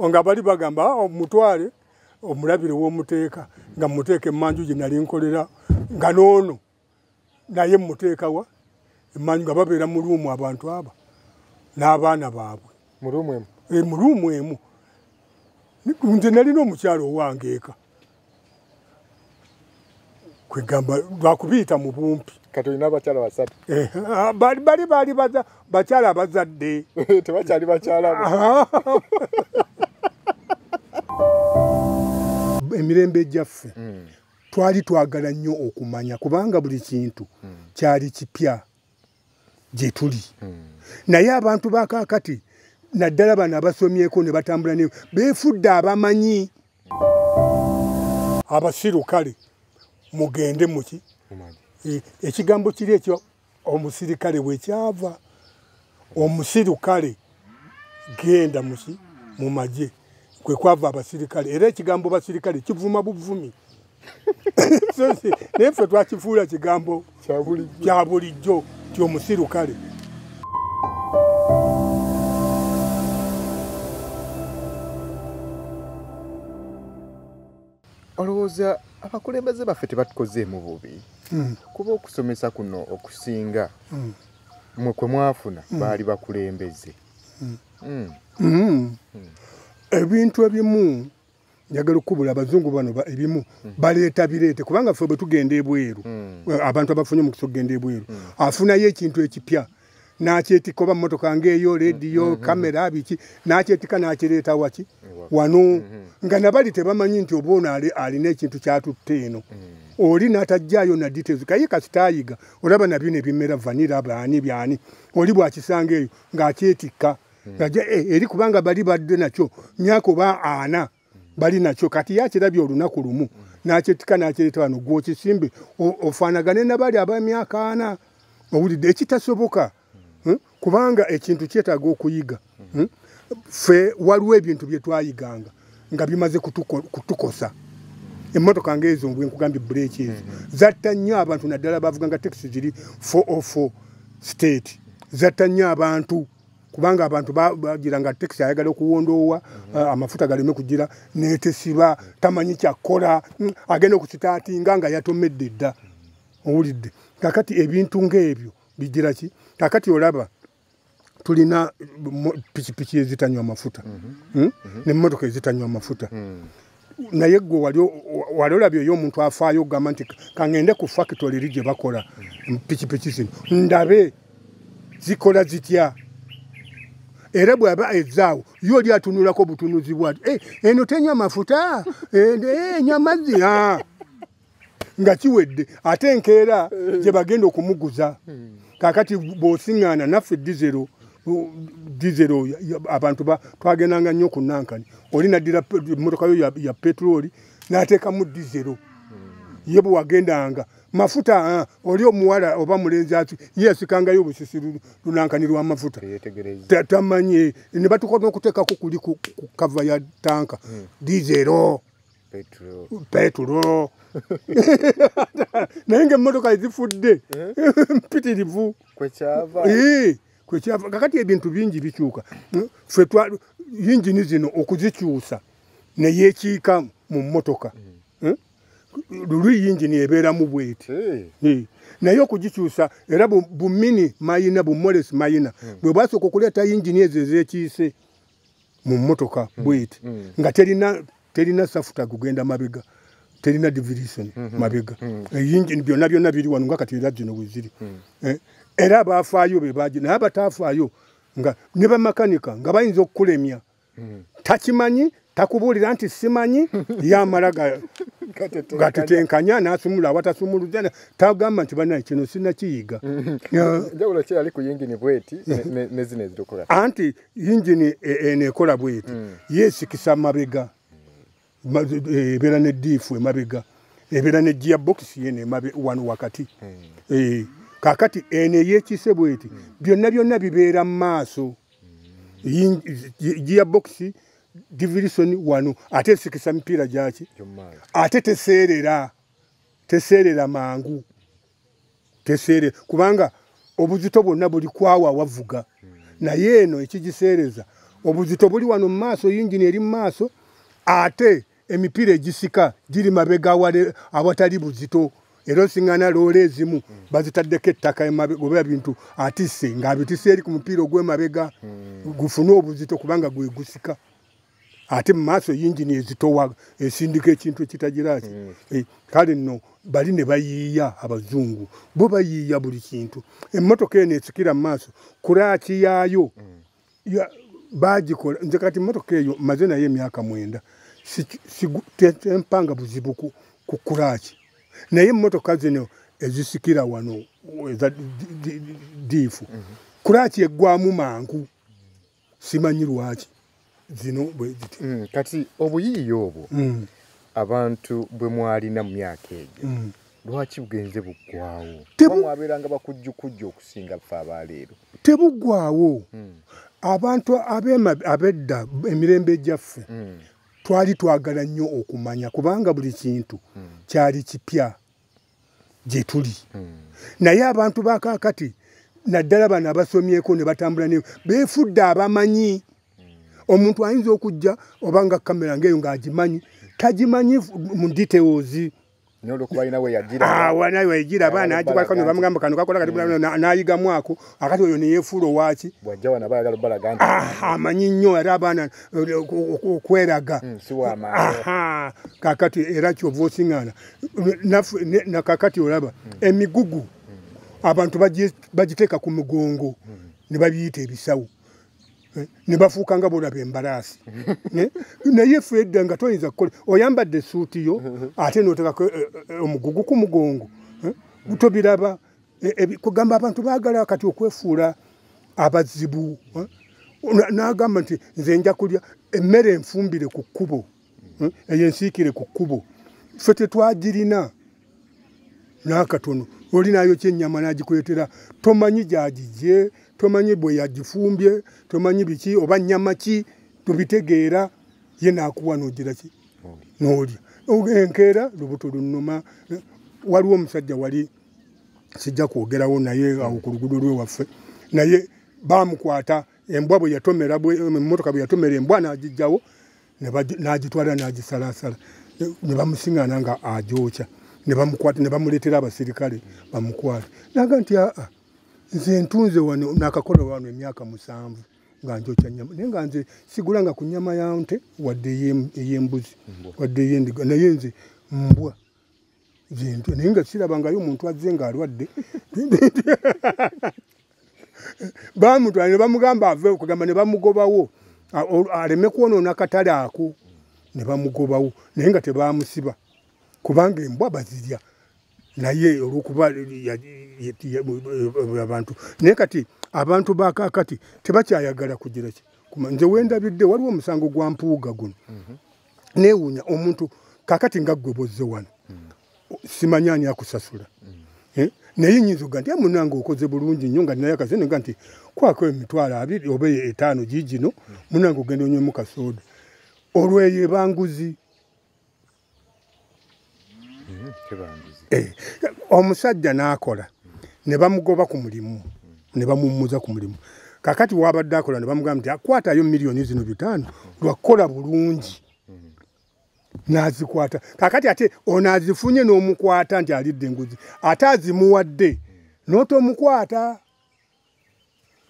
nga bali bagamba ah, omutwale omulabire womuteeka nga muteeka emanju gye nali nkolera nga noono naye muteekawa emanju nga babeera mu luumu abantu aba n'abaana baabwe mu luumu emu eh, nze nalina omukyalo owangeeka kwegamba lwakubiyita mu bumpi kati olina abakyala basatu eh, ah, bali bali bali bakyala abazadde tebakyali bakyala emirembe ejjaffe hmm. twali twagala nnyo okumanya kubanga buli kintu hmm. kyali kipya gye tuli hmm. naye abantu bakakati naddala bano abasomyeko ne batambula ne beefudde abamanyi abasiru kale mugende muki e, ekigambo kiri ekyo omusirikale wekyava omusiru kale genda muki mu magye kwe kwava abasirikale era ekigambo basirikale kivuma buvumi naye ffe twakifuula kigambo kya bulijjo ti omusiru kale olowooza abakulembeze baffe tebatukozeemu bubi hmm. kuba okusomesa kuno okusinga hmm. mwe kwe mwafuna hmm. baali bakulembeze ebintu ebimu njagala okukubula abazungu bano ebimu hmm. baleeta bireete kubanga ffe bwe tugenda ebweru hmm. eh, abantu abafunye omukisa okugenda ebweru hmm. afunayo ekintu ekipya nakyetika oba mumotoka ngaeyo rediyo kamera biki nakyetika nakireeta waki wano nga nabali tebamanyi nti oba ono alina ekintu kyatutte eno oli natajjayo na details kaye kasitayiga olaba nabyo nebimera vanira baani byani oli bwakisanga eyo ngaakyetikka hmm. aja e, eh, eri kubanga bali badde nakyo myaka oba ana bali nakyo kati yakirabye olunaku lumu nakyetika nakireeta wano gwokisimbe ofanagane nabali abamyaka ana owulidde ekitasoboka hmm? kubanga ekintu kyetaaga okuyiga hmm? fe waliwo ebintu byetwayiganga nga bimaze kutukosa emotoka nga ezo nkugambye bureeki ezo mm-hmm. zatta nnyo abantu naddala bavuga nga tekisi ziri 404 state zatta nnyo abantu kubanga abantu bagira nga taxi ayagala okuwondoowa mhm. eh, amafuta galeme kugira netesiba tamanyi kyakola mm, agenda okukitaatinga nga yatomedde dda mhm. owulidde kakati ebintu ngaebyo bigira ki kakati olaba tulina pikipiki ezitanywa amafuta mhm. Hmm? nemotoka ezitanywa amafuta hmm. naye gwe wali olabye oyo omuntu afaayo ogamba nti kangende ku fakitole eri gye bakola pikipiki zino ndabe zikola zitya era bwaba ezaawo yo oli atunulako butunuzi bwati eh, eno tenywa mafuta eh, eh, enywa mazzi nga kiwedde ate enkeera eh. gye bagenda okumuguza hmm. kakati bw'osiŋŋaana naffe dizero dizero abantu twagendanga nnyo ku nankani oli naddira emmotoka yo ya petulooli n'ateekamu dizero hmm. ye bwe wagendanga mafuta ah, oli omuwala oba mulenzi ati ye yasikangayo obusisi lunankani lw'amafuta tamanyi ne batuka n'okuteekako kuli ku kava ya tanka hmm. dizero petulo naye nga emmotoka ezifudde eh? mpitirivu kwekyava kakati ebintu bingi bikyuka fe yingini zino okuzikyusa neyekiika mu mmotoka hmm. eh? lulu yingini ebeeramu bweti eh. naye okugikyusa era bumini mayina bumolesi mayina hmm. bwe bwasooka okuleeta yingini ezo ezekiise mu mmotoka mm. bweti mm. nga terina terina safuta kugenda mabega terina division mm -hmm. mabega mm. eyinjini eh, byonna byonna biri wano nga kati era gino weziri mm. eh, era abafaayo be baji naye abatafaayo nga ne bamakanika nga bayinza okukulemya mm. takimanyi takubuulira nti simanyi yamala gatetenkanya nasumula awatasumuluzana tagamba nti banaye kino sinakiyiga mm-hmm. anti yingini e, eno ekola bweti mm. yesikisa mabega e, ebeera ne diifu emabega ebeera ne gia bokisi yeno emabe wano wakati mm. e, kakati eno eyekise bweti mm. byonna byonna bibeera mu maaso gia bokisi divirisoni wano ate esikisa mipiira gyaki ate teseerera teseerera mangu teseere kubanga obuzito bwonna buli kwawa wavuga naye eno ekigiseereza obuzito buli wano mu maaso yingini eri mu maaso ate emipiira egisika giri mabega awatali buzito era osiŋana loola ezimu bazitaddeko ettaka oba bintu atisse ng'abitise eri ku mupiira ogw'emabega gufune obuzito kubanga gwe gusika ate mu maaso yingini ezitowa esindika ekintu ekitagiraki mm. eh, kale nno bali ne bayiiya abazungu bo bayiiya buli kintu emmotoka eno esikira mu maaso kuraaki yaayo mm. bagikola nze kati mmotoka eyo maze naye emyaka mwenda tempanga buzibu ku kuraaki naye emmotoka zino ezisikira wano eza diifu mm-hmm. kuraaki eggwamu mangu simanyi lwaki zino bweziti mm, kati obuyiiya obwo mm. abantu bwe mwalina mu myaka egyo mm. lwaki bugenze buggwawo mwabeeranga bakujjukujja okusinga fe abaleero tebuggwawo mm. abantu abedda emirembe gyaffe mm. twali twagala nnyo okumanya kubanga buli kintu mm. kyali kipya gye tuli hmm. naye abantu bakakati naddala bano abasomyeko ne batambula ne beefudde abamanyi hmm. omuntu ayinza okujja oba nga kamera ngaeyo ng'agimanyi tagimanyi mu details wanayo egira abaana agikwatako ne bamugamba kano kakola kati hmm. n'ayigamu ako akati oyo neyefuula owaki amanyi nnyo era abaana eh, okweraga kakati era kyova osiŋana nakakati olaba hmm. emigugu hmm. abantu bagiteeka ku mugongo hmm. ne babiyita ebisawo eh, ne bafuuka nga bolaba embalaasi eh, naye fe edda nga toyinza kukola oyambadde esuuti yo ate noteekako eh, omugugu ku mugongo tobiraba kugamba abantu baagala kati okwefuula abazibu n'agamba nti nze nja kulya emmere enfumbire ku kkubo hmm? eyo ensiikire ku kkubo ffe tetwagirina n'akatono oli nayo kyennyama n'agikuleetera tomanyi gyagigye tomanyi bwe yagifumbye tomanyi biki oba nnyama ki tubitegeera ye naakuwa noogira ki noolya enkeera lubuto lunuma waliwo omusajja wali sijja kwogerawo naye awo ku lugudo lwe waffe naye baamukwata embwa bwe yatomera emmotoka bwe yatomera embwa n'agijjawo n'agitwala n'agisalaasala ne bamusingana nga agyokya ne bamukwata ne bamuleetera abasirikale bamukwate naga nti aa nze ntunze wano nakakola wano emyaka musanvu nga njokya nyama naye nga nze sigula nga ku nyama ya nte wadde ey'embuzi wadde ey'endiga naye nze mbwa gyentya naye nga sirabangayo omuntu azze ng'alwadde bamutwala ne bamugamba ave okugamba ne bamugobawo aleme kwonoona katale ako ne bamugobawo naye nga tebamusiba kubanga embwa bazirya naye olwokuba abantu naye kati abantu bakakati tebakyayagala kugira ki nze wendabidde waliwo omusango gwa mpuuga guno mhm. newunya omuntu kakati nga gwe bozze wano simanya ani akusasula eh? naye nyinza oga nti amunange ah, okoze bulungi nnyo nga naye akase nega nti kwako emitwalo abiri oba etaano gigino munange ogenda onywemu kasooda olweyo ebanguzi eh, omusajja n'akola ne bamugoba ku mulimu ne bamummuza ku mulimu kakati wabadde akola ne bamugamba nti akwatayo miliyoni zino bitaano lwakukola bulungi n'azikwata kakati ate ono azifunye n'omukwata nti alidde enguzi ate azimuwadde n'otomukwata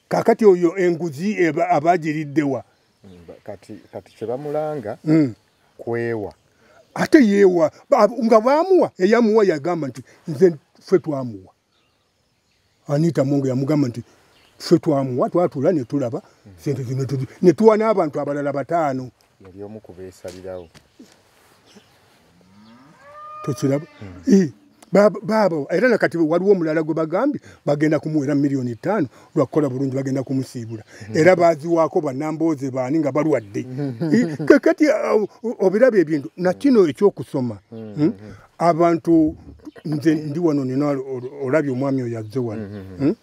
kakati oyo enguzi abagiriddewa kati kati kyebamulanga mm. kwewa ate yewa nga bamuwa eyamuwa yagamba nti nze ffe twamuwa anita mungu yamugamba nti ffe twamuwa twatula netulaba sente zino netuwa n'abantu abalala bataano yali omu kubesalirawo tokiraba eh, baaba era nakati waliwo omulala gwe bagambye bagenda kumuwera miliyoni ttaano lwakukola bulungi bagenda kumusiibula mhm. era baziwaako banambooze baani nga balwadde mhm. eh, kakati uh, obiraba ebintu nakino mhm. ekyokusoma hmm? abantu nze ndi wano nina olabye omwami oyo azze wano hmm?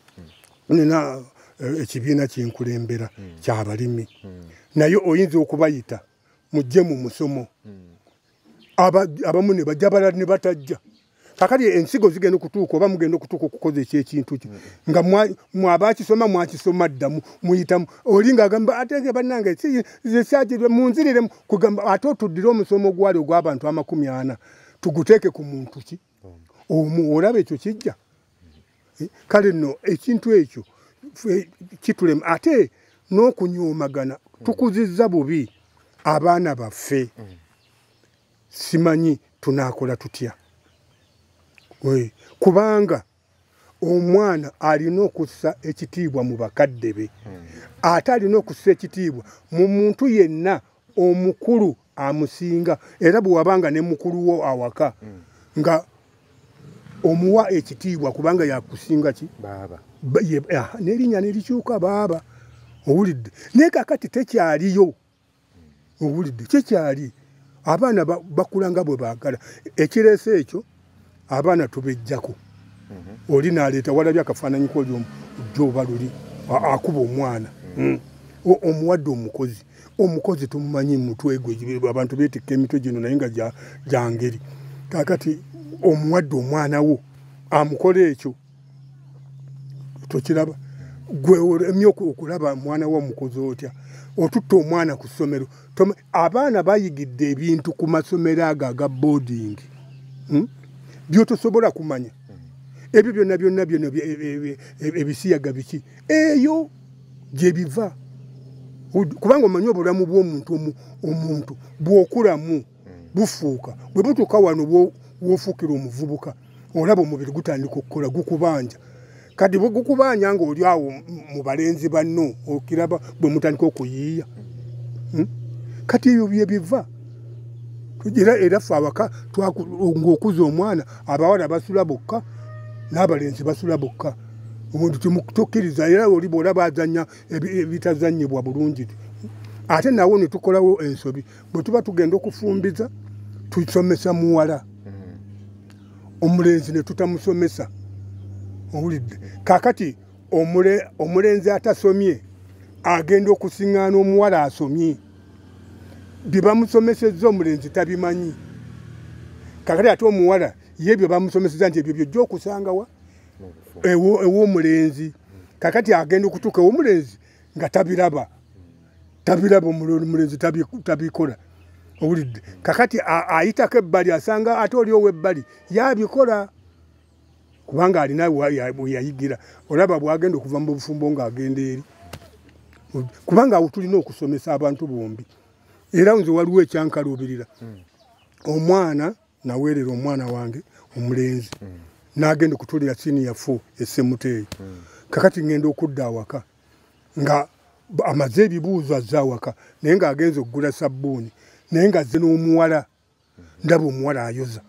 nina eh, ekibiina kyenkulembera kyabalimi naye oyinza okubayita mujje mu musomo abamu ne bajja balala ne batajja kakati ensigo zigenda okutuuka oba mugenda okutuuka okukoza ekyekintu kyo nga mwabakisoma mwakisoma ddamu muyitamu oli ngaagamba atege bannange zekyagirwe munziriremu kugamba ate otuddire omusomo ogwali ogw'abantu amakumi ana tuguteeke ku muntu ki omu olaba ekyo kijja eh, kale nno ekintu ekyo kitulema ate n'okunyoomagana tukuzizza bubi abaana baffe simanyi tunaakola tutya kubanga omwana alina okussa ekitiibwa mu bakadde be hmm. ate alina okussa ekitiibwa mu muntu yenna omukulu amusinga era bwe wabanga ne mukulu wo awaka hmm. nga omuwa ekitiibwa kubanga yakusinga ki ah, nerinya nerikyuka baaba owulidde naye kakati tekyaliyo owulidde kyekyali abaana bakula nga bwe baagala ekireese ekyo abaana tubejjako mhm. oli naleeta walabye akafaananyi koli joba luli akuba omwana mhm. mm. omuwadde omukozi omukozi tumumanyi mutwegwe abantu betikka emitwe gino naye nga gyangeri kakati omuwadde omwana wo amukola ekyo tokiraba gwe olemye okulaba mwana wo omukozi otya otutta omwana ku ssomero abaana bayigidde ebintu ku masomero ago aga boarding hmm? byotosobola kumanya ebyo byonna byonna byona e, e, e, ebisiyaga biki eyo gyebiva kubanga omanyi obulamu bwomuntu omuntu bwokulamu bufuuka bwe butuuka wano wofuukira omuvubuka olaba omubiri gutandika okukola gukubanja kati bwe gukubanja ng'oli awo mu balenzi banno okiraba bwe mutandika okuyiiya hmm? kati ebyo bye biva era era ffe awaka ng'okuza omwana abawala basula bokka n'abalenzi basula bokka omuntu kimutukkiriza era oli bw'olaba azannya ebitazannyibwa bulungi ate nawo ne tukolawo ensobi bwe tuba tugenda okufumbiza tusomesa muwala hmm. omulenzi ne tutamusomesa owulidde kakati omulenzi atasomye agenda okusiŋŋaana omuwala asomye bye bamusomesezza omulenzi tabimanyi kakati ate omuwala ye bye bamusomeseza nti ebyo byojja okusangawa ew'omulenzi kakati agenda okutuuka ew'omulenzi nga tabiraba tabiraba omulenzi tabikola owulidde kakati ayitako ebbali asanga ate oli owebbali yabikola kubanga alina weyayigira olaba bwagenda okuva mu bufumbo ngaagenda eri kubanga awo tulina okusomesa abantu bombi era nze waliwo ekyankaluubirira hmm. omwana naweerera omwana wange omulenzi hmm. nagenda okutulira siniya fo esemuteeyo hmm. kakati ngenda okudda awaka mm. nga amaze ebibuuzo azze awaka naye ng'agenza okugula sabbuuni naye ng'azze n'omuwala ndaba omuwala ayoza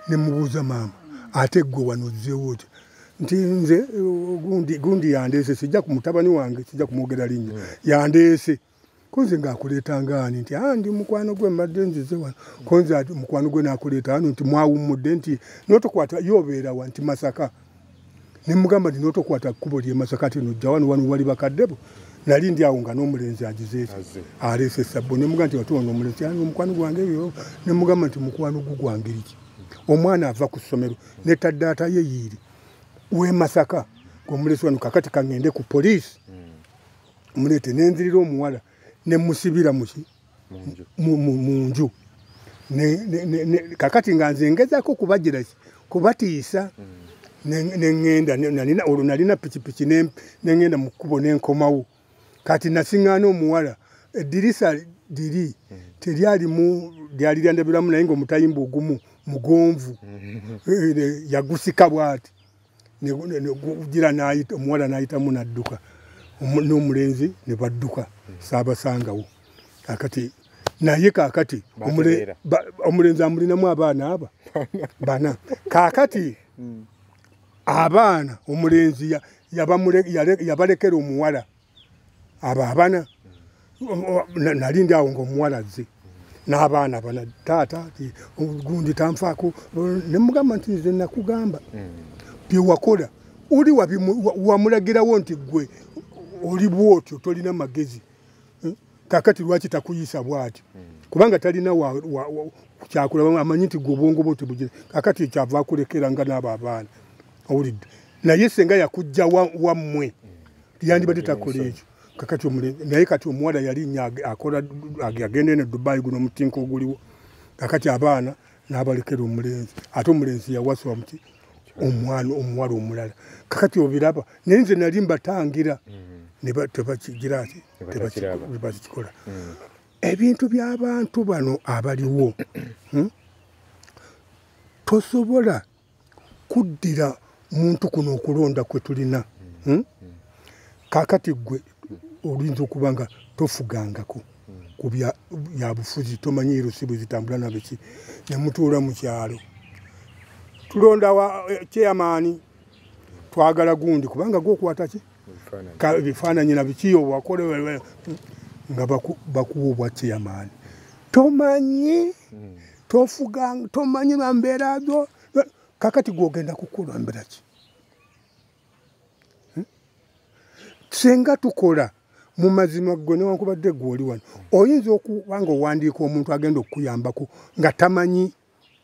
ne mubuuza maama ate ggwe wano ozzeewo otya nti nze gundi yandeese sijja ku mutabani wange sijja kumwogera linnya hmm. yandeese kunze ng'akuleeta ngaani nti a ah, ndi mukwano gwe mbadde nzize wano kunze mukwano gwe n'akuleeta wano nti mwawummudde nti n'otokwata ye obeera wa nti masaka ne mugamba nti n'otokwata kkubo ly'e masaka ti nojja wano wano wali bakaddebo nali ndi awo nga n'omulenzi agizeeki aleese sabbo ne mugamba nti watuwa n'omulenzi ani omukwano gwange ebyo ne mugamba nti mukwano gu gwangeri ki omwana ava ku ssomero ne taddaata ye yiiri w'e masaka ng'omulesi wano kakati kaŋŋende ku poliisi mm. mulete nenzirira omuwala nemusibira muki munju kakati nga nze ngezako kubajiraki kubatiisa mm. nengenda olwo nalina pikipiki nengenda mu kkubo nenkomawo kati nasiŋŋaana omuwala eddirisa liri mm. teryalimu lyali lyandabiramu naye ngaomutayimba ogumu mugonvu mm. eh, eh, yagusika bwati gira nayita omuwala nayitamu nadduka n'omulenzi ne badduka saabasangawo kakati naye kakati omulenzi amulinamu abaana aba bana kakati hmm. abaana omulenzi yabalekera omuwala abo abana nali ndi awo ngaomuwala azze n'abaana bana taata gundi tanfaako nemugamba nti nze nakugamba mm. byewakola oli wamulagirawo nti gwe oli bwotyo tolina magezi eh? kakati lwaki takuyisa bwati mm. kubanga talina kyakulaba amanyi nti gwe obwongo bwo tebugire kakati ekyava akulekera nga n'abo abaana owulidde naye senga yakujja wammwe wa yandibadde takola ekyo kakati omule naye kati omuwala yali nya akola agenda eno dubai guno omutinka oguliwo kakati abaana n'abalekera omulenzi ate omulenzi yawasa omuti omwana omuwala omulala kakati obiraba naye nze nali mbatangira mm-hmm. tebakigira ki tebakikola mm. ebintu by'abantu bano abaliwo hmm? tosobola kuddira muntu kuno okulonda kwe tulina hmm? kakati gwe oluyinza okuba nga tofugangako ku byabufuzi tomanyi erusibu zitambula nabiki nemutuula mu kyalo tulonda wa eh, kyeyamaani twagala gundi kubanga gwokwataki bifaananyi nabikiyo wakola nga bakuwa obwa kyeyamaani tomanyi hmm. tofuga tomanyi bambeera zo kakati gwogenda kukula mbeera ki hmm? singa tukola mu mazima gwe newankubadde gwe oli wano oyinza okuba nga owandiika omuntu agenda okukuyambako nga tamanyi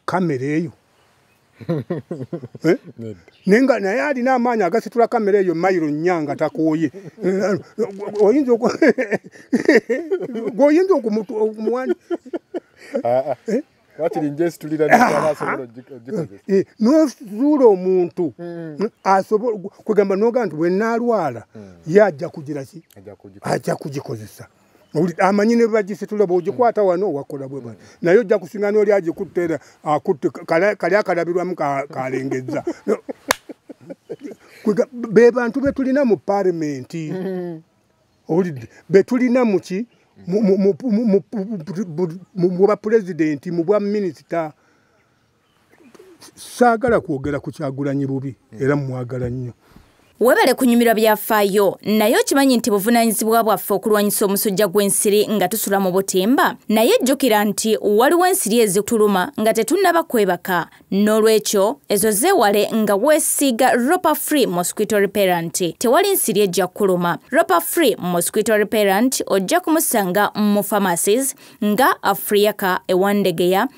kamera eyo Eh? naye nga naye alina amaanyi agasitula kamera eyo mayiro nnya nga takooye oyinza gwoyinza okumuwani nosuula omuntu hmm. asobola kwegamba noga nti bwenaalwala hmm. ye ajja kugira ki ajja kugikozesa amanyi ne bagisitula bwogikwata wano wakola bwe bano naye ojja kusinga nooli agikutte era akutte kali akalabirwamu kalengezza be bantu be tulina mu palimenti mm-hmm. owulidde be tulina muki mu bwapulezidenti mu bwa minisita saagala kwogera ku kyagulanyi bubi era mumwagala nnyo webale kunyumirwa byafaayo naye okimanyi nti buvunaanyizibwa bwaffe okulwanyisa omusujja gw'ensiri nga tusula mu butimba naye jjukira nti waliwo ensiri ezituluma nga tetunnaba kwebaka n'olwekyo ezo zeewale nga weesiiga roper free mosquito reparent tewali nsiri ejja kukuluma roper free mosquito reparent ojja kumusanga mu pharmacies nga afriaka ewandegeya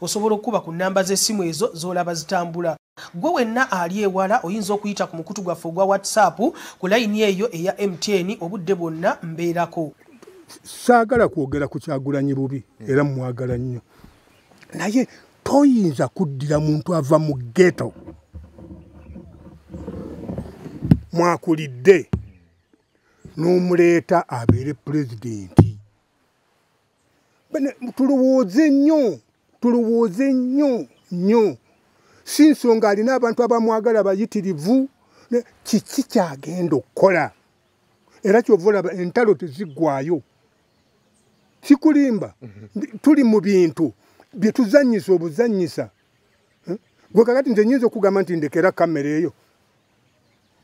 osobola okukuba ku nnamba z'essimu ezo z'olaba zitambula gwe wenna ali ewala oyinza okuyita ku mukutu gwaffe ogwa whatsapp ku layini eyo eya mtn obudde bwonna mbeerako saagala kwogera ku kyagulanyi bubi hmm. era mumwagala nnyo naye toyinza kuddira muntu ava mu geto mwakulidde n'omuleeta abeere pulezidenti tulowooze nnyo tulowooze nnyo nnyo si nsonga alina abantu abamwagala bayitirivu kiki kyagenda okukola era kyova olaba entalo teziggwayo kikulimba mhm. tuli mu bintu bye tuzannyisa obuzannyisa hm? gwe kakati nze nyinza okugamba nti ndekera kamera eyo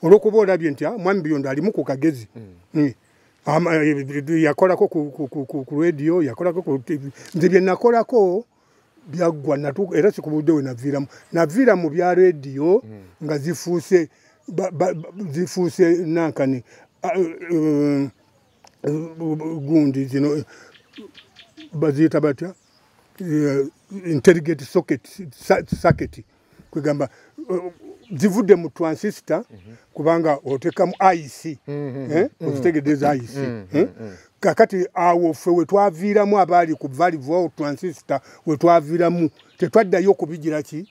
olwokuba olabye nti ah, mwami buyondo alimu ku kagezi mm. Mm. Eh, yakolako ku radio yakolako ku tv nze byenakolako byaggwa era sikubudde we naviiramu naviira mu bya radio mm. nga zifuuse zifuuse nankani ah, eh, gundi zino eh, baziyita batya intelligent socket socket kwegamba zivudde mu transistor mhm. kubanga otekamu ic mhm. eh? mhm. ozitegedeza ic eh? kakati awo ffe wetwaviiramu abaali ku valivo transistor wetwaviiramu tetwaddayo kubigiraki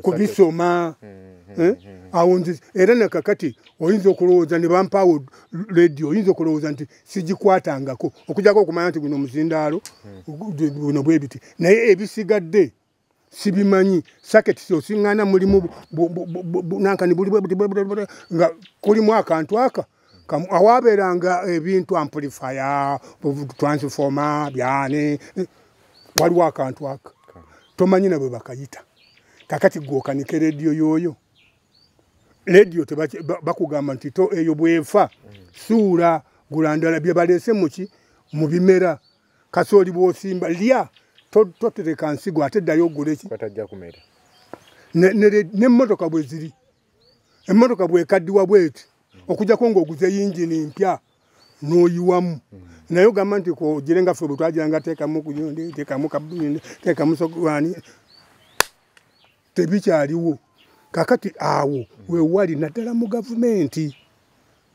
kubisoma eh? awo nzi era nakakati oyinza okulowooza ne bampaawo radio oyinza okulowooza nti sigikwatangako okujako okumanya nti guno muzindaalo guno bwebiti naye ebisigadde sibimanyi saketisi osiŋŋana mulimu nankani buli nga kulimu akantu aka awaabeeranga ebintu ampulifaya transifoma byane eh, waliwo akantu aka tomanyi nabwe bakayita kakati gwokanike rediyo yooyo rediyo bakugamba nti to eyo bwefa suula gulandala bye baleese muki mu bimera kasooli bwosimba lya totereka nsigo ate ddayo oguleki nemmotoka bwe ziri emmotoka bwekaddiwa bweti okujako ngaoguze yingini mpya noyiwamu mm. naye ogamba nti kogire nga fe bwetwagiranga tekamu kuyundi tekamu kabuyundi tekamu sogwani tebikyaliwo kakati awo wewali naddala mu gavumenti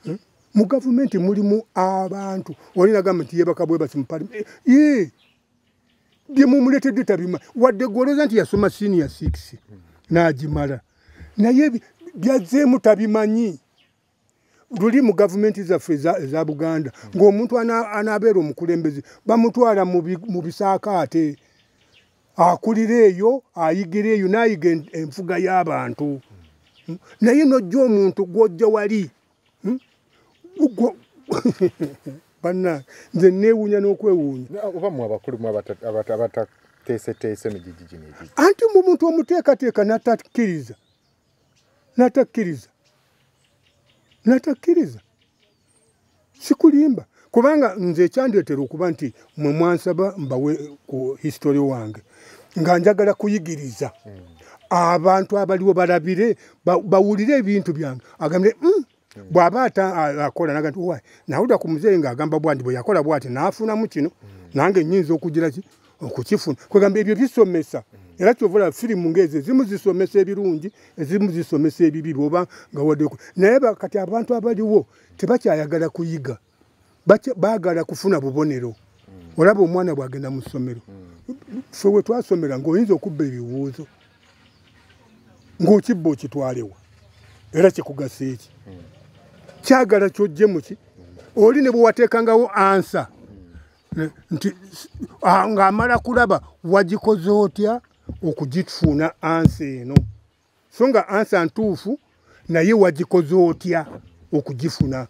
hmm? mu gavumenti mulimu abantu olinagamba nti yebaka bwebasi mupalime eh, byemumuletedde tabima wadde gwolooza nti yasoma senior six nagimala naye byazeemu tabimanyi luli mu gavumenti zaffe eza buganda ng'omuntu anaabeera omukulembeze bamutwala mu bisaakaate akulira eyo ayigira eyo n'ayiga enfuga y'abantu naye n'ojja omuntu gw'ojja wali hmm? banna nze neewuunya n'okwewuunya oba mu abakulu mu abatateeseteese migigi gino anti mu muntu omuteekateeka n'atakkiriza natakkiriza natakkiriza sikulimba kubanga nze ekyandeetera okuba nti mwe mwansaba mbawe ku histori wange nga njagala kuyigiriza abantu abaliwo balabire bawulire ebintu byange agambye mm, hmm. bwaba akola naga nti nawulira ku muzeeyi ngaagamba bwandi bwe yakola bwati naafunamu kino hmm. nange nyinza okugira ki okukifuna kwegamba ebyo bisomesa hmm. era kyovola firimu ngaezo ezimu zisomesa ebirungi ezimu zisomesa ebibi bwoba nga wadeko naye kati abantu abaliwo tebakyayagala kuyiga mm. baagala kufuna bubonero hmm. olaba omwana bwagenda mu ssomero hmm. fe we twasomera ng'oyinza okubba ebibuuzo ng'okibba okitwalewa era kikugasa eki hmm. kyagala kyojje muki oli ne bwe wateekangawo ansa nti ng'amala kulaba wagikoze otya okugitfuuna ansa eno so nga ansa ntuufu naye wagikoze otya okugifuna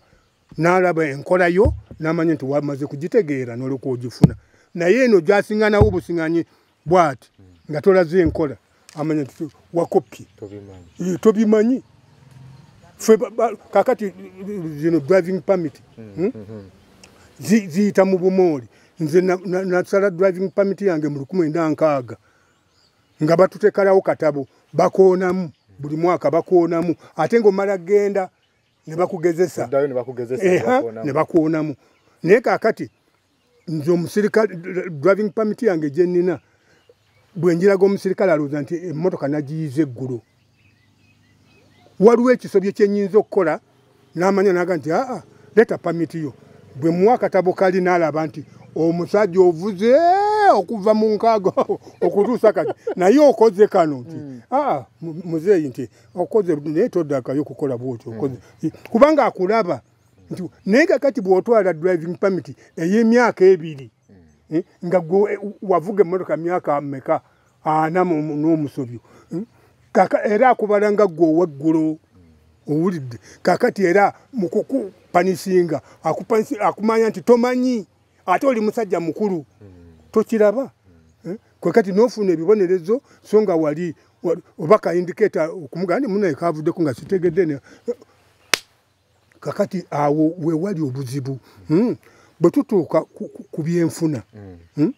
n'alaba enkolayo n'amanya nti wamaze kugitegeera n'olwokuba ogifuna naye eno gyasinganawo obusinganyi bwati nga tolaze enkola amanya nti wakoppye tobimanyi eh, fe kakati zino driving permit hmm? Hmm? Hmm. ziyita mu bumooli nze nasala driving permit yange mu lukumi enda nkaaga nga batutekalawo katabo bakoonamu buli mwaka bakoonamu ate ngaomala genda nebakugezesa nebakoonamu naye kakati nze omusirikale driving permit yange gyenina bwenjiraga omusirikale alowooza nti emotoka nagiyiza eggulo waliwo ekisobyo kyenyinza okukola namanya naga nti aa leta pamiti yo bwe muwa akatabo kali nalaba nti omusajja ovuze okuva mu nkaaga okutuusa kati naye okoze kano nti hmm. aa muzeeyi nti okoze naye todakayo okukola bwoti okoze hmm. kubanga akulaba nti naye kakati bwotwala driving pamiti ey'emyaka ebiri eh, nga gwe eh, wavuga emmotoka myaka meka ana n'omusobyo hmm? kaka era akubala nga gwe oweggulo owulidde kakati era mukukupanisinga akumanya nti tomanyi ate oli musajja mukulu tokiraba eh, kwekati nofuna ebibonerezo so nga wali oba kaindiketa okumugandi munaye kavuddeko nga sitegedde kakati awo wewali obuzibu hmm? bwe tutuuka ku byenfuna hmm. Hmm?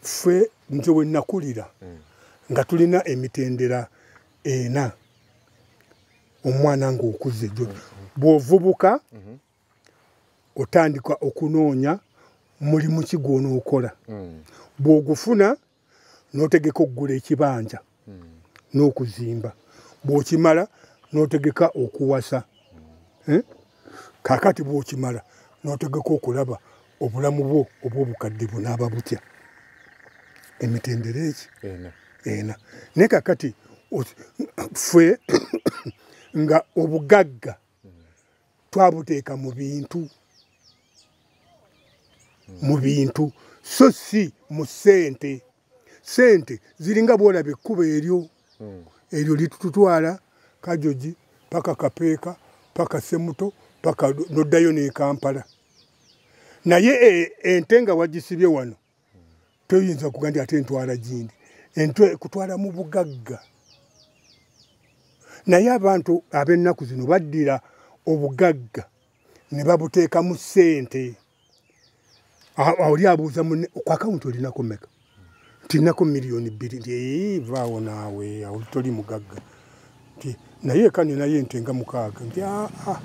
ffe nze wenakulira nga tulina emitendera ena omwana ngaokuze jo bwovubuka otandika okunoonya mulimu ki gwonookola bwogufuna notegeka okugula ekibanja n'okuzimba bw'okimala n'otegeka okuwasa eh? kakati bw'okimala n'otegeka okulaba obulamu bwo obw'obukadde bunaaba butya emitendera eki ena naye kakati ffe nga obugagga twabuteeka mu bintu mu bintu so si mu ssente ssente ziringa bwolaba ekkuba eryo hmm. eryo litututwala kajoji paka kapeeka paka semuto paka noddayo nekampala naye e, ente nga wagisibye wano toyinza kuga nti ate entwala gindi entwe kutwala mu bugagga naye abantu ab'ennaku zino baddira obugagga ne babuteekamu ssente oli abuuza mune ku akawunti olinako meka ntinako miliyoni bbiri nti vaawo naawe awo toli mugagga nti naye eka ninayo ente nga mukaaga nti aa ah, ah,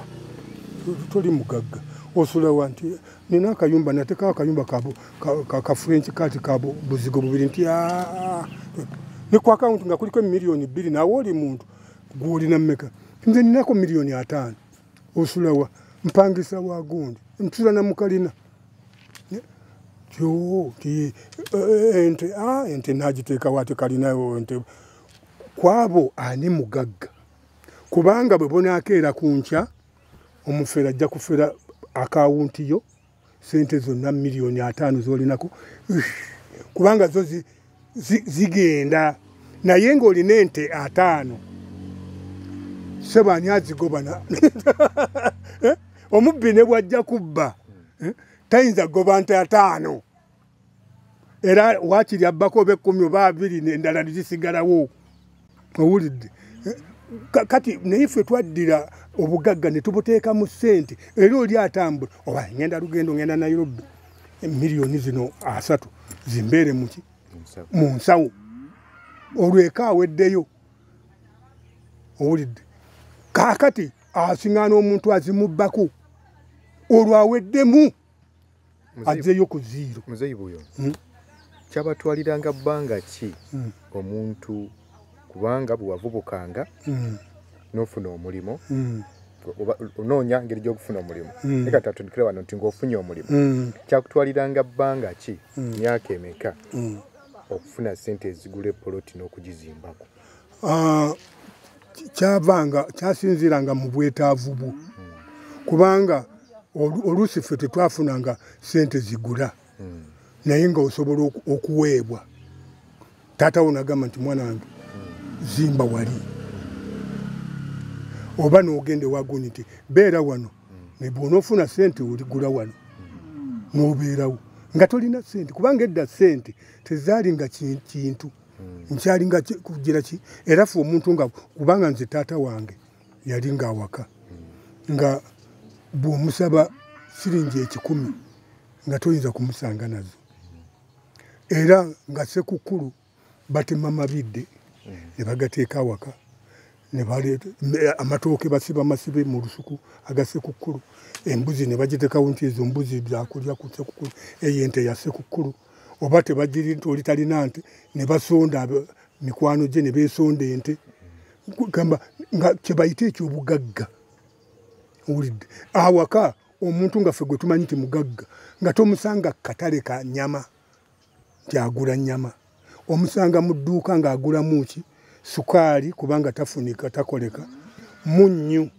toli mugagga osulawa nti nina akayumba natekawo akayumba kafrenki kati ka buzigo bubiri nti aa ah, ne ku akawunti nga kuliko emiliyoni bbiri nawe oli muntu gwolina mumeka nze ninako miliyoni ataano osulawa mpangisa wagundi ntula namukalina yoo ti eh, eh, ente a ah, ente nagiteekawo ate kalinayo nte kwabo ani mugagga kubanga bwe bunaakeera ku nkya omufera ajja kufera akawunti yo sente zonna miliyoni ataano zolinako kubanga zo zigenda naye ng'olina ente ataano sebaani azigobana eh? omubbi ne bwajja kubba eh? tayinza goba nte ataano era wakiri abbako oba ekkumi oba abiri endala nezisigalawo owulidde eh, kati naye ffe twaddira obugagga ne tubuteeka mu ssente era oli atambula oba ngenda lugendo ngenda nairobi emiliyoni zino asatu zimbeere muki mu nsawo olweka aweddeyo owulidde kaakati asiŋana omuntu azimubbako olwaweddemu azeeyo ku ziiro muzeyibu oyo hmm? kyabatwaliranga bbanga ki hmm. omuntu kubanga bwewavubukanga hmm. nofuna omulimu onoonya ngeri gyokufuna omulimu naye kati atundikire wano nti ngaofunye omulimu kyakutwaliranga bbanga ki myaka emeka okufuna sente ezigula epoloti n'okugizimbako ah, kyavanga kyasinziiranga mu bwetaavu bwo kubanga oluusi ffe tetwafunanga sente zigula naye nga osobola okuweebwa taata wo nagamba nti mwana wange zimba wali oba nogenda ewaguni nti beera wano naye bwonaofuna sente oligula wano nobeerawo nga tolina sente kubanga edda sente tezaali nga kintu hmm. nkyali nga kugira ki era fe omuntu nga kubanga nze taata wange yali nga awaka hmm. nga bwomusaba siringi ekikumi nga toyinza kumusanga nazo era nga sekukulu batema mabidde hmm. ne bagateeka awaka amatooke basiba masibe mu lusuku agasekukulu embuzi ne bagitekawo nti ezo mbuzi zakulya ku sekukulu eyo ente ya sekukulu oba tebagiri nti oli talina nte ne basonda mikwano gye ne beesonda ente gamba nga kyebayita ekyobugagga owulidde awaka omuntu nga ffe gwe tumanyi nti mugagga nga tomusanga katale ka nyama nti agula nyama omusanga mu dduuka ng'agulamu ki sukaali kubanga tafunika takoleka munnyu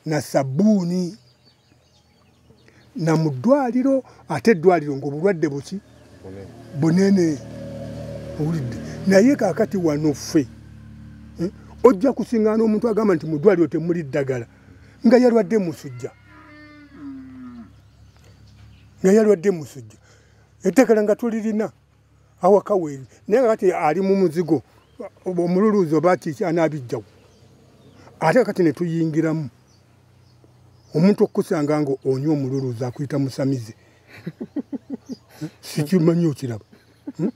na sabbuuni na mu ddwaliro ate eddwaliro ngaobulwadde buki bunene owulidde naye kakati wano ffe eh, ojja kusingaana omuntu agamba nti mu ddwaliro temuli ddagala nga yalwadde musujja nga yalwadde musujja eddagala nga tulirina awaka weeri naye nga kati ali mu muzigo omululuuzi oba kiki anaabijjawo ate kati ne tuyingiramu omuntu okukusanga nga onywa omululuuzi akuyita musamize sikimanyi okiraba hmm?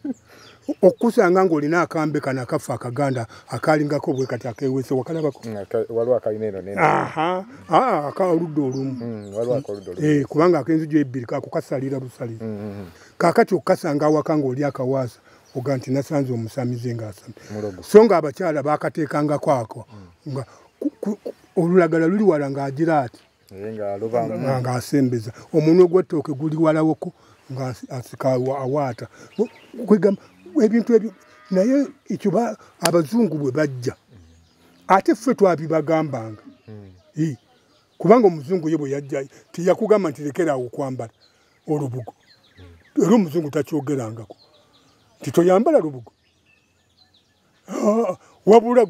okukusanga nga olina akambe kano akaffe akaganda akalingako bwe kati akewese wakalabako akaludde olumu kubanga akenzijo ebbiri kakukasalira busalira kakati okukasanga awaka ngaoli akawaasa oga nti nasanze omusamize ngaasami so nga abakyala bakateekangako ako hmm. nga olulagala luli wala ngaagira ati ngaasembeza omunwe gwettooke guli walawoko ngaasika awaata kwegamba ebintu ebyo naye ekyo abazungu bwe bajja ate ffe twabibagambanga hmm. kubanga omuzungu ye bwe yajja teyakugamba nti lekeraawo okwambala olubugo era omuzungu takyogerangako nti toyambala lubugo ah, wabula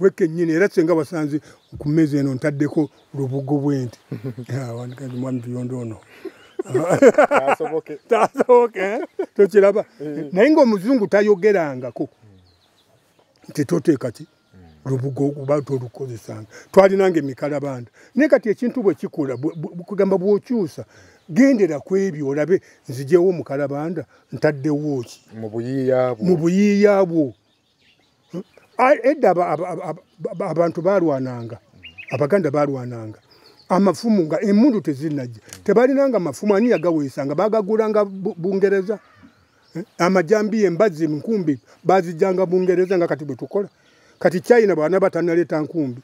wekenyini era senga wasanze ku mmeeza eno ntaddeko lubugo bwenti ah, wandikandi mwami tuyondo ono tasoboke eh? tokiraba eh. naye ngaomuzungu tayogerangako nti toteeka ki lubugo okuba nti olukozesanga twalinanga emikalabanda naye kati ekintu bwe kikula kugamba bw'okyusa gendera ku ebyo olabe nzijewo omukalabanda ntaddewo ki mu buyiiya bwo edda abantu balwananga abaganda balwananga amafumu nga emundu tezinajja tebalinanga mafumu ani yagaweesanga bagagulanga bungereza Eh, amajambi embazi enkumbi bazijjanga bungereza nga kati bwe tukola kati china bwana batanaleeta nkumbi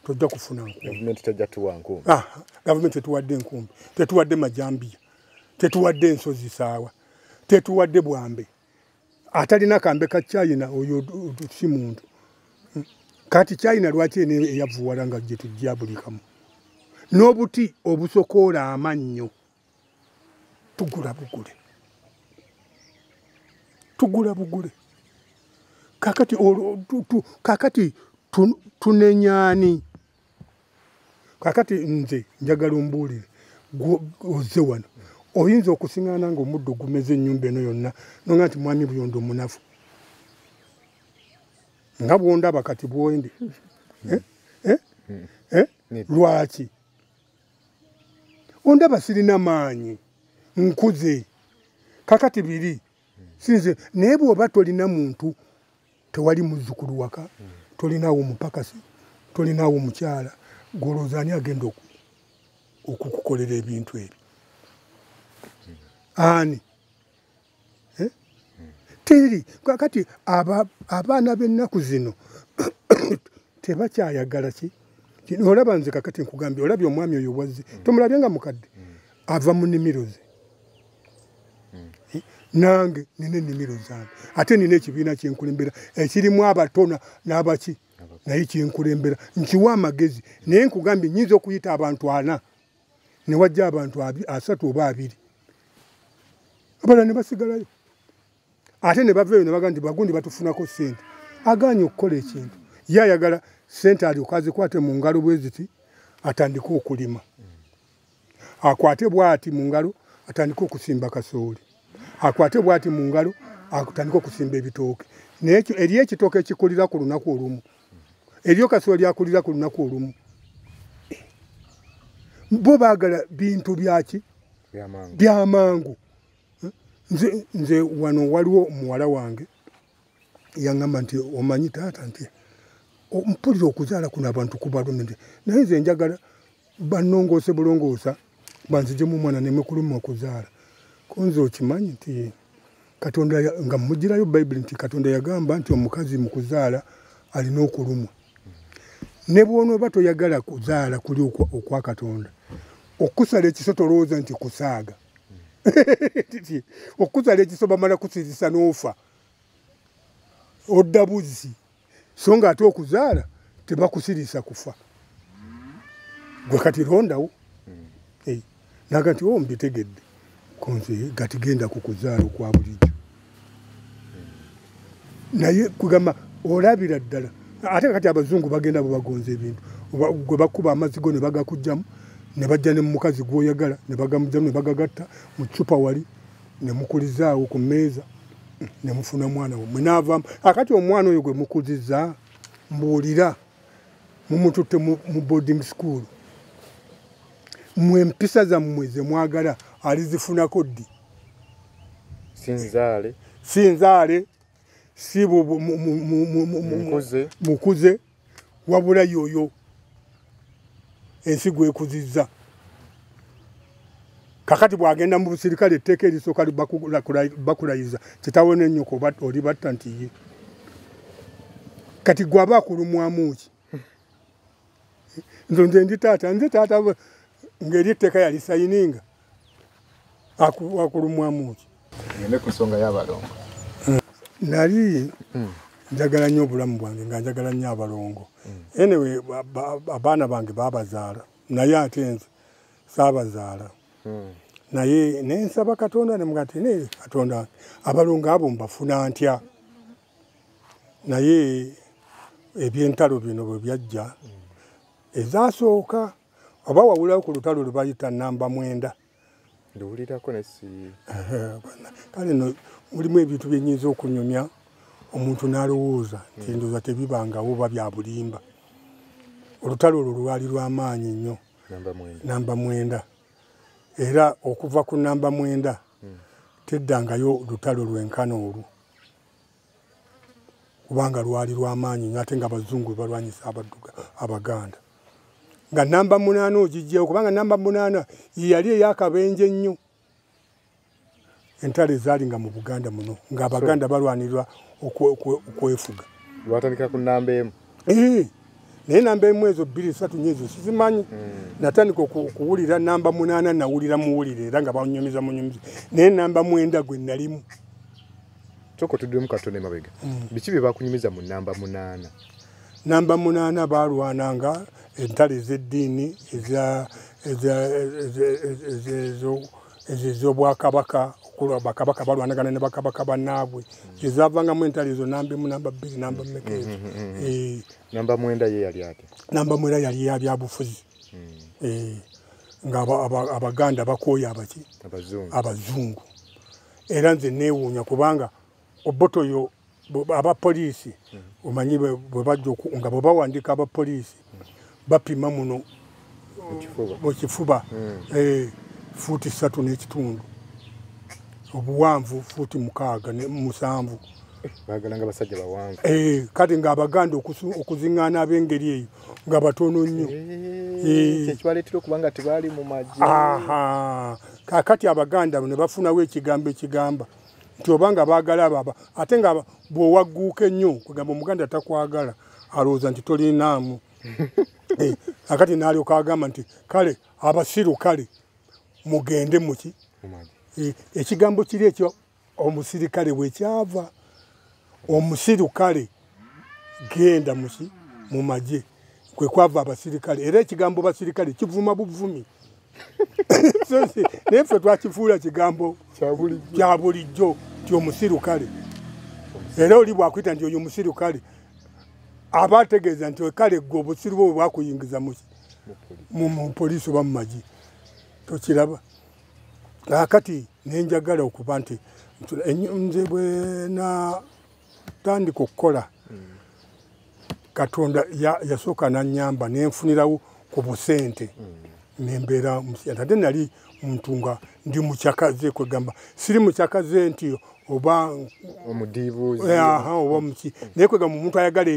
tojja kufuna nkumbigavumenti ah, tetuwadde enkumbi tetuwadde majambiya tetuwadde ensozi saawa tetuwadde bwambe atalina kambe ka china oyo si muntu hmm. kati china lwaki ene eyavuwala nga gyetujja buli kamu n'obuti obusokoola amannyo tugula bugule tugula bugule kakati kakati tunenyani kakati nze njagala ombuulire oze wano oyinza okusiŋana nga omuddo ogumeza enyumba eno yonna noga nti mwami buyondo omunafu nga bwondaba kati bwendi eh? Eh? Eh? lwaki ondaba sirina maanyi nkuze kakati biri sinze naye bwoba tolina muntu tewali muzzukulu waka tolinawo mupakasi tolinawo mukyala golooza ani agenda okukukolera ebintu ebyo ani eh? teri kakati abaana b'ennaku zino tebakyayagala ki olaba nze kakati nkugambye olabye omwami oyo wazze mm. tomulabye nga mukadde mm. ava mu nimiro ze mm. eh, nange nina enimiro zange ate nina ekibiina kyenkulembera ekirimu abatona n'abaki naye kyenkulembera nkiwa amagezi naye nkugambye nyinza okuyita abantu ana ne wajja abantu asatu oba abiri abala ne basigalayo ate ne bava eyo ne baga nti bagundi batufunako ssente agaanye okukola ekintu ye ayagala ssente alyoka azikwate mu ngalo bwe ziti atandike okulima akwate bwati mu ngalo atandike okusimba kasooli akwate bwati mu ngalo atandike okusimba ebitooke naye eriyo ekitooke ekikulira ku lunaku olumu eryo kasuwa lyakulira ku lunaku olumu bo bagala bintu byaki byamangu nze nze wano waliwo muwala wange yangamba nti omanyi taata nti mpulira okuzaala kuno abantu kubalumi nti naye nze njagala banongoose bulongoosa banzijemu omwana nemukuluma okuzaala kunze okimanyi nti katonda nga mugirayo bayibuli nti katonda yagamba nti omukazi mukuzaala alina okulumwa ne bwonooba toyagala kuzaala kuli okwa katonda okusala ekiso tolowooza nti kusaaga okusala ekiso bamala kusirisa n'ofa odda buzzi so nga ate okuzaala tebakusirisa kufa gwe kati londawo eh, naga nti o oh, mbitegedde konze gati genda ku kuzaala okwa bulijjo naye kugamba olabira ddala ate kati abazungu bagenda bwebagonza ebintu gwe bakuba amazzi go ne bagakugjamu ne bajja ne mumukazi gwoyagala ne bagamugjamu ne bagagatta mu cupa wali ne mukulizaawo ku mmeeza ne mufuna omwana wamwe naavamu akati omwana oyo gwe mukuziza mbuulira mumututte mu boarding school mwe empisa zammwe ze mwagala alizifunako ddi sinzaale sinzaale si mukuze wabula yoyo ensi gwekuzizza kakati bwagenda mu busirikale etteeka erisooka bakulayiza kitawo nenyoko oba oli batta nti ye kati gwaba akulumwamuki nze nze ndi taata nze taata ngeri etteeka yalisayininga akulumwamu ki ne ku nsonga y'abalongo hmm. nali hmm. njagala nnyo obulamu bwange nga njagala nnyo abalongo hmm. anyway abaana bange babazaala naye ate nze saabazaala naye naye nsaba katonda nemugati naye katonda abalongo abo mbafuna ntya naye ebyentalo bino bwe byajja ezasooka oba wawulawo ku lutalo lubayita namba mwenda ndiwulirako nesi kale no mulimu ebintu byenyinza okunyumya omuntu nalowooza nti hmm. ndoza tebibangawo oba byabulimba olutalo olwo lwali lwamaanyi nnyo namba mwenda era okuva ku namba mwenda hmm. teddangayo lutalo lwenkana olwo kubanga lwali lwamaanyi nyo ate nga abazungu bebalwanyisa abadduga abaganda nga namba munaana ogijjewo kubanga namba munaana yeyali eyakabenje ennyo entalo ezaali nga mu buganda muno nga abaganda balwanirirwa okwefuga lwatandika ku namba emu eh, naye namba emu ezo bbiri esatu nyo ezo sizimanyi hmm. natandika okuwulira namba munaana nawulira muwulire era nga banyumiza munyumiza naye namba mwenda gwe nalimu sooka otuddemu katona emabega mm. biki bye bakunyumiza mu namba munaana namba munaana baalwananga entalo ez'eddiini ez'obwakabaka okulwa bakabaka balwanagana ne bakabaka banaabwe ezavangamu mm. entalo ezo namba emu namba bbiri namba mm, mmeka ezo eh. namba mwenda ye yali ate namba mwenda yali yabyabufuzi eh. nga abaganda bakooya abaki abazungu era nze neewuunya kubanga oboto yo aba poliisi omanyi bwebajja nga bwe bawandiika aba poliisi bapima muno mu kifuba hmm. eh, fuuti ssatu n'ekitundu obuwanvu fuuti mukaaga musanvu eh, kati ng'abaganda okuziŋŋaana ab'engeri eyo nga batono nnyo eh, kakati abaganda ne bafunawo ekigambo ekigamba nti obanga baagala ababa ate nga bw'owagguuka ennyo kwegamba omuganda takwagala alowooza nti tolinaamu eh, akati naalyoka agamba nti kale abasiru kale mugende muki eh, ekigambo kiri ekyo omusirikale wekyava omusirikale genda musi mu magye kwe kwava abasirikale era ekigambo basirikale kivuma buvumi naye ffe twakifuula kigambo kya bulijjo ti omusirukale era oli bwakwita nti oyo omusirukale aba ategeeza nti kale gwe obusiru bwe bwakuyingiza mu poliisi oba mu magi tokiraba akati nenjagala okuba nti nze bwenatandika okukola katonda yasooka nanyamba nenfunirawo ku busente nembeera musente ate nali muntu nga ndi mucakaze kwegamba siri mucakaze nti oba omudibuzi aha oba muki naye kwegamba omuntu ayagala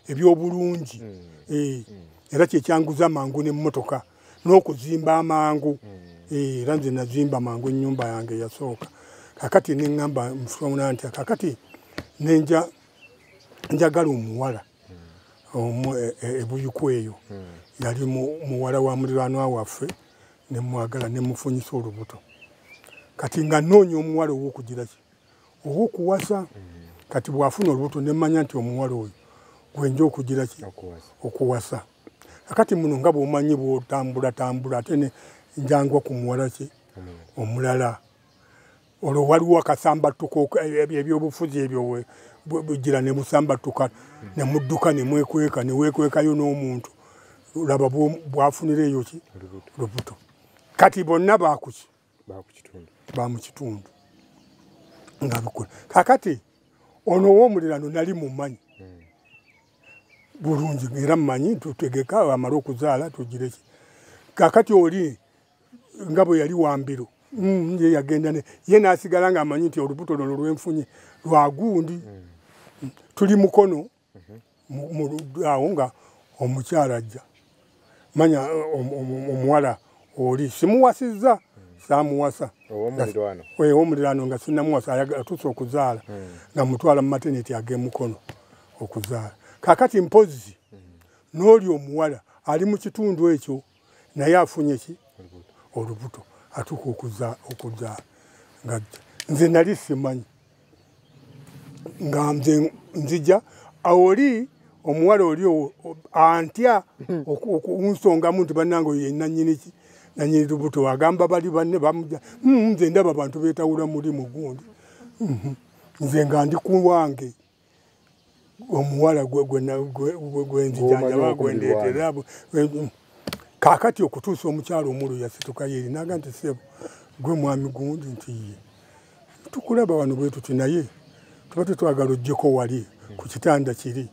ebyobulungi mm. Eh. Mm. era kyekyanguza mangu nemotoka n'okuzimba amangu hmm. eh, era nze nazimba mangu ennyumba yange yasooka kakati neŋamba mufuna nti kakati nenja njagala omuwala hmm. omu e, e, ebuyuku eyo hmm. yali muwala wa mulirwanwa waffe nemwagala nemufunyisa olubuto kati nga noonya omuwala owokugiraki owokuwasa kati bwafuna olubuto nemanya nti omuwala oyo gwenja okugiraki okuwasa akati muno nga bwomanyi bwotambula tambula ate ne njangwa ku muwalaki omulala olwo waliwo akasambattuko ebyobufuzi ebyo bujira ne musambattuka ne mudduka ne mwekweka ne weekwekayo n'omuntu laba bwafunira eyo ki lubuto kati bonna baakuki ba mu kitundu nga bikola kakati ono ow'omulirano nali mumanyi hmm. bulungi era mumanyi tutegeka amala okuzaala tugireki kakati oli nga bwe yali wambiro mm, ye yagenda ye n'asigala ng'amanyi nti olubuto lono lwenfunye lwagundi hmm. tuli mukono awo nga omukyala ajja manya omuwala oli simuwasizza samuwasa owomulirano nga sinamuwasa atuuse okuzaala hmm. nga mutwala mu mateneti agemukono okuzaala kakati mpozi hmm. n'oli omuwala ali mu kitundu ekyo naye afunye ki olubuto atuka okuza okuza ngajja nze nali simanyi nga nze nzija awoli omuwala oli antya hmm. okunsongamu nti banange oyo yenanyini ki nanyini lubuto agamba bali banne bamuja hmm, nze ndaba bantu betawula mulimu gundi hmm, nze nga ndi kuwange omuwala gwenzijanjaba gwendeetera kakati okutuusa omukyalo omulu yasituka yeri naga nti sebo gwe mwami gundi nti ye tukulaba wano bwe tuti naye tuba tetwagala ojjeko wali ku kitanda kiri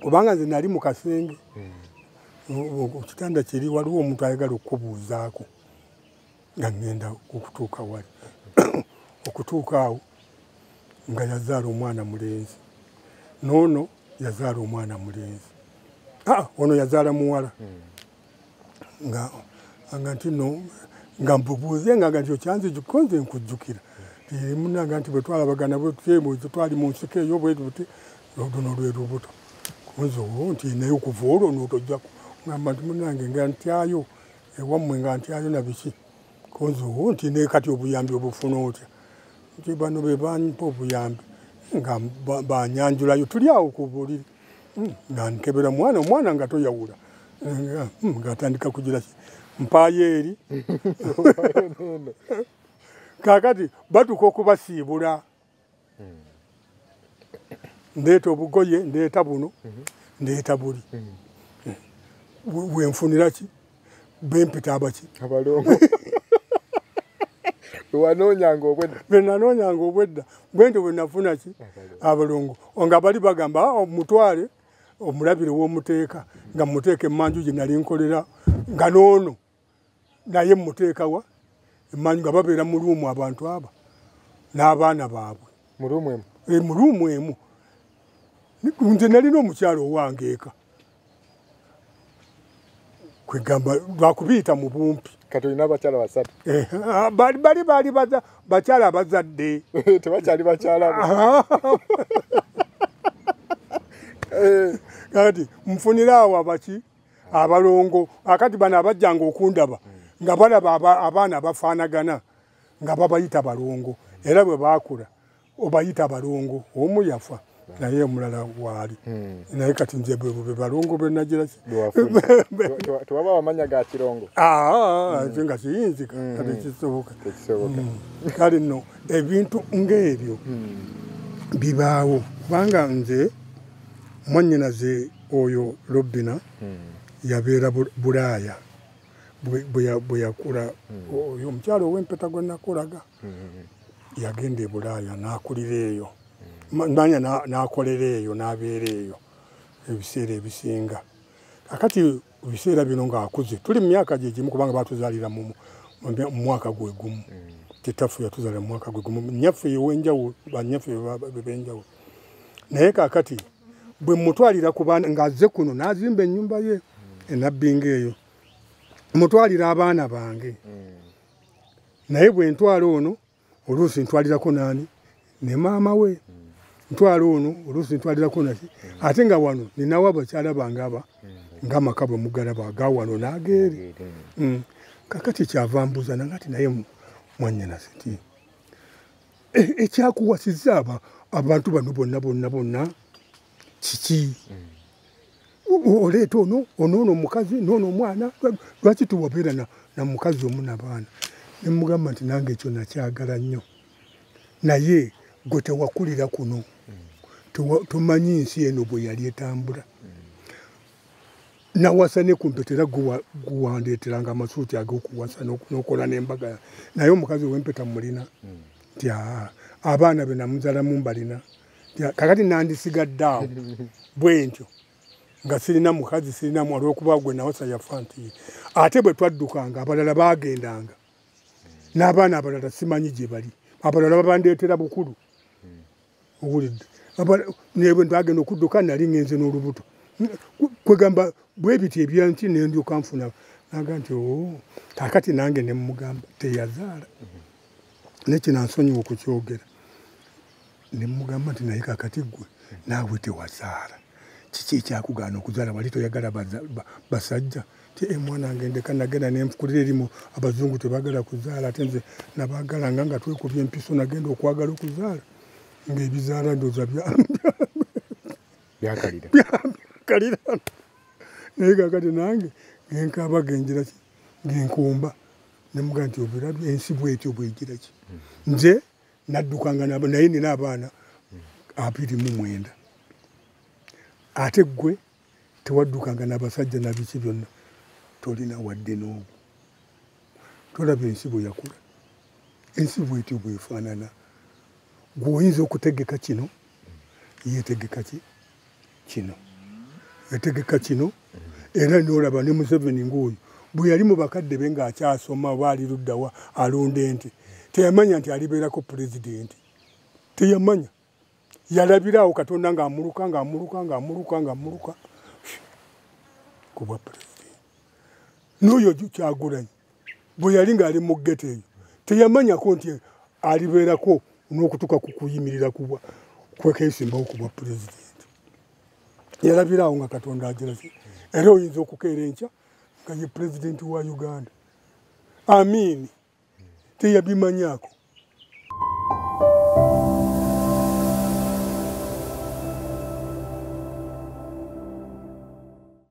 obanga nze nali mu kasenge hmm. ku kitanda kiri waliwo omuntu ayagala okukubuuzaako nga ŋŋenda okutuuka wali okutuuka awo nga yazaala omwana mulenzi noono yazaala omwana mulenzi ah, ono yazaala muwala hmm. nga nga nti no nga mbubuuze nga nga nti okyanzi gikonze nkujjukira emunanga nti bwetwalabagana bwetyebuzi twali mu nsiko eyo bwetuti luno lwe lubuto kunze owo nti naye okuva olwo notojjaku ngamba nti munange nga ntyayo ewammwe nga nti ayona biki koziwo nti ne kati obuyambi obufuna otya nti bano be bampa obuyambi nga banyanjulayo tuli awo ku buliri hmm, nga nkebera mwana omwana nga toyawula hmm, ngaatandika kugira ki mpaayo eri kakati batuka okubasiibula ndeeta obugoye ndeeta buno ndeeta buli wenfunira ki bempita abaki abalongo wanoonyanga obwedda benanoonyanga obwedda bwentyo bwenafuna ki abalongo nga bali bagamba ah, omutwale omulabire womuteeka nga muteeka emanju gye nali nkolera nga noono naye muteekawa emanyi nga babeera mu luumu abantu aba n'abaana baabwe mu luumu emu e, mu luumu emu nze nalina omukyalo owange eka kwegamba lwakubiyita mu bumpi kati olina abakyala basatu eh, ah, bali baali bakyala abazadde tebakyali bakyala eh. kati mufunire awo abaki abalongo akati bano abajjanga okundaba nga balaba abaana abafaanagana nga babayita balongo era bwe baakula obayita balongo omu yafa naye omulala waali hmm. naye kati nze bwebube balongo benagiraki tewaba wamanya ga kirongo ah, ah, hmm. nga kiyinzika hmm. kati kisoboka kale no ebintu ngaebyo bibaawo kubanga nze mwanyinaze oyo lobina yabeera bulaaya bwe yakula oyo omukyalo owempeta gwe nakulaga yagenda ebulaaya n'akulira eyo manya n'akolera eyo n'abeera eyo ebiseera ebisinga akati mu biseera bino ng'akuze tuli mu myaka gye gimu kubanga batuzaalira mu mwaka gwe gumu hmm. kitaffe yatuzaalira mu mwaka gwe gumu nyaffe ewenjawulo banyaffe benjawulo naye kakati bwe mutwalira ku baana ng'azze kuno n'azimba ennyumba ye hmm. enabbinga eyo mutwalira abaana bange hmm. naye bwe ntwala ono oluusi ntwalirako naani ne maama we ntwala ono oluusi ntwalirako naki ate nga wano ninawo abakyala bange aba ngaamaka bwe mugalaba aga wano n'ageeri mm. kakati kyava mbuza nanga ti naye mwanyanazi ti e, ekyakuwasiza abantu bano bonna bonna bonna kiki oleeta ono onoono omukazi noono omwana lwaki tiwabeera na mukazi omu nabaana nemugamba nti nange ekyo nakyagala nnyo naye gwe tewakulira kuno tomanyi nsi eno bwe yali etambula nawasa ne kumpeta era guwandeeteranga amasuuti agokuwasa nokola nembaga naye omukazi wempeta mulina nti abaana benamuzalamu mbalina kakati nandisigadde awo bwentyo nga sirina mukazi sirina mwalwokuba gwe nawasa yafa nti ate bwe twaddukanga abalala baagendanga n'abaana abalala simanyi gye bali abalala babandeetera bukulu owulidde nebwe ntagenda okudduka nali ngenze n'olubuto kwegamba bwebiti ebyanki nendyoka nfuna naga nti oh, kakati nange nemugamba teyazaala nekinansonyiwa okukyogera nemugamba nti naye kakati gwe naawe tewazaala kiki ekyakugaana okuzaala wali toyagala basajja ti emwana eh, ngendeka nagenda nenfukulira erimu abazungu tebagala kuzaala ate nze nabagalanga nga twekubya empiso nagenda okwagala okuzaala ngaebizaala ndoza byakalira naye kakati nange ngenkaaba genjira genkumba nemuga nti obirabye ensi bwetyo bwegiraki nze naddukanga naye nina abaana abiri mu mwenda ate ggwe tewaddukanga nabasajja nabiki byonna tolina wadde n'obu tolaba ensi bwe yakula ensi bwetyo bwefaanana gweoyinza okutegeka kino yetegeka ki kino yategeka kino era nolaba ne museveni ngaoyo bwe yali mu bakadde be ng'akyasoma oba ali luddawa alunda ente teyamanya nti alibeerako pulezidenti teyamanya yalabiraawo katonda ng'amuluka ng'amuluka ng'amuluka ng'amuluka kubwa pulezidenti n'oyo kyagulanyi bwe yali ng'ali mu geto eyo teyamanyako nti alibeerako n'okutuuka ku kuyimirira kubwa kwekeesimbawo ku bwa pulezidenti yalabira awo nga katonda agiraze era oyinza okukeera enkya nga ye pulezidenti wa uganda amiini teyabimanyako